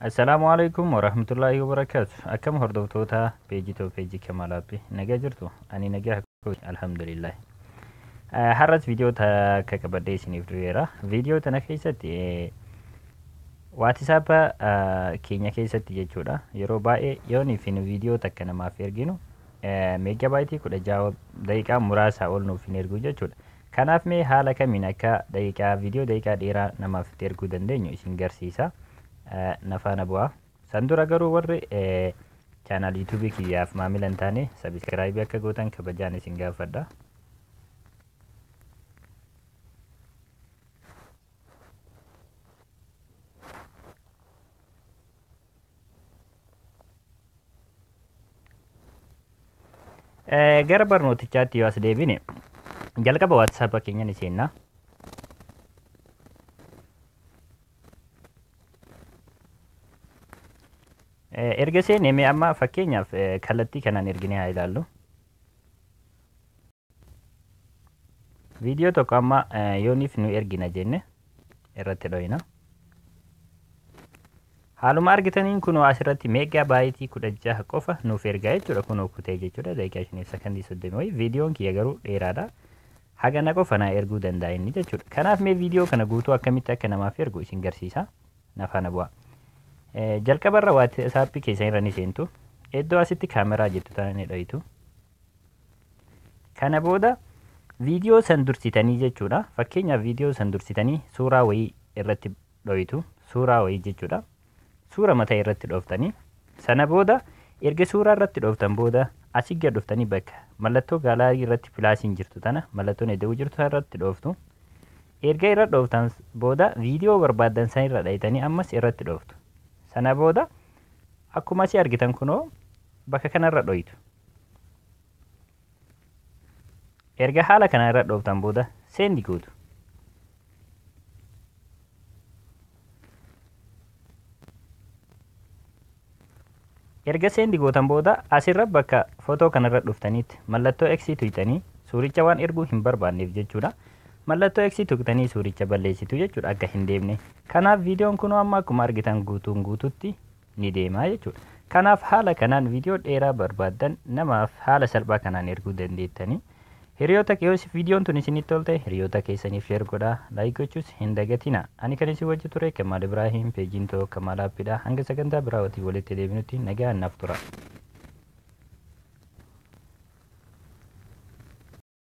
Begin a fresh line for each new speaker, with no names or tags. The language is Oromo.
Assalaamu alaikum warahmatullaahi wabarakaatu. Akkam hordoftoota peejii too peejii Kamaal Aappi nagaa jirtu? Ani nagaa kooti alhamdulillah. Har'as viidiyoo takka qabadhee isiniif dhufeera. Viidiyoo tana keessatti waatisaappa keenya keessatti jechuudha. Yeroo baay'ee yoonii fi nu viidiyoo takka namaaf erginu meeggabaayitii kudha ja'a daqiiqaa muraasaa ol nuuf hin ergu jechuudha. Kanaaf mee haala kamiin akka daqiiqaa video daqiiqaa dheeraa namaaf itti erguu dandeenyu isin garsiisa. Na faana bu'aa. San dura garuu warri channel YouTube kiyyaaf maamila hin taane subscribe akka gootan kabajaan isin gaafadha. Eh, gara barnootichaatti yoo as deebine jalqaba waatsaapa keenya ni seenna. Eh, erga seenee mee amma fakkeenyaaf eh, kallattii kanaan erginee haa ilaallu. Viidiyoo tokko amma yooniif nu ergina jenne irratti dhoyina. Haaluma argitaniin kunoo asirratti meegaa baayitii kudha jaha qofa nuuf ergaa jechuudha kunoo kutee jechuudha daqiiqaa shaniif sakandii soddoma wayii viidiyoon kiyya garuu dheeraadha. Hagana qofa naa erguu danda'a inni jechuudha. Kanaaf mee viidiyoo kana guutuu akkamitti akka namaaf ergu isin garsiisa. Nafaana bu'aa. Jalqabarra waati saappii keessan irra ni seentu. Iddoo asitti kaameraa jettu tana ni dhoyitu. Kana booda viidiyoo san dursitanii jechuudha. Fakkeenyaaf viidiyoo san dursitanii suuraa wayii irratti dhoytu. Suuraa wayii jechuudha. Suura mataa irratti dhooftanii. Sana booda erga suuraa irratti dhooftan booda asii gad dhuftanii bakka mallattoo gaalaarii irratti pilaasiin jirtu tana mallattoon eda'uu jirtu tana irratti dhooftu. Erga irra dhooftan booda viidiyoo barbaaddan san irra dhaytanii ammas irratti dhooftu. Sana booda akkuma asii argitan kunoo bakka kana irra dhoytu. Erga haala kana irra dhooftan booda seendi gootu. Erga seendi gootan booda asirra bakka footoo kanarra dhuftaniitti mallattoo X tuqxanii suuricha waan erguu hin barbaanneef jechuudha. Mallattoo X tuqxanii suuricha balleessitu jechuudha akka hin deemne. Kanaaf viidiyoon kunuu amma akkuma argitan guutuun guututti ni deema jechuudha. Kanaaf haala kanaan viidiyoo dheeraa barbaaddan namaaf haala salphaa kanaan erguu dandeettani. Hiriyoota yoo viidiyoon tun isinitti tolte hiriyoota keessaniif sheer godhaa, laayik gochuus hin dagatina. Ani kan isin wajji ture Kamaal Ibraahim, peejiin too Kamaal Aappidha. Hanga sagantaa biraa walitti walitti deebinutti nagaan naaf tura.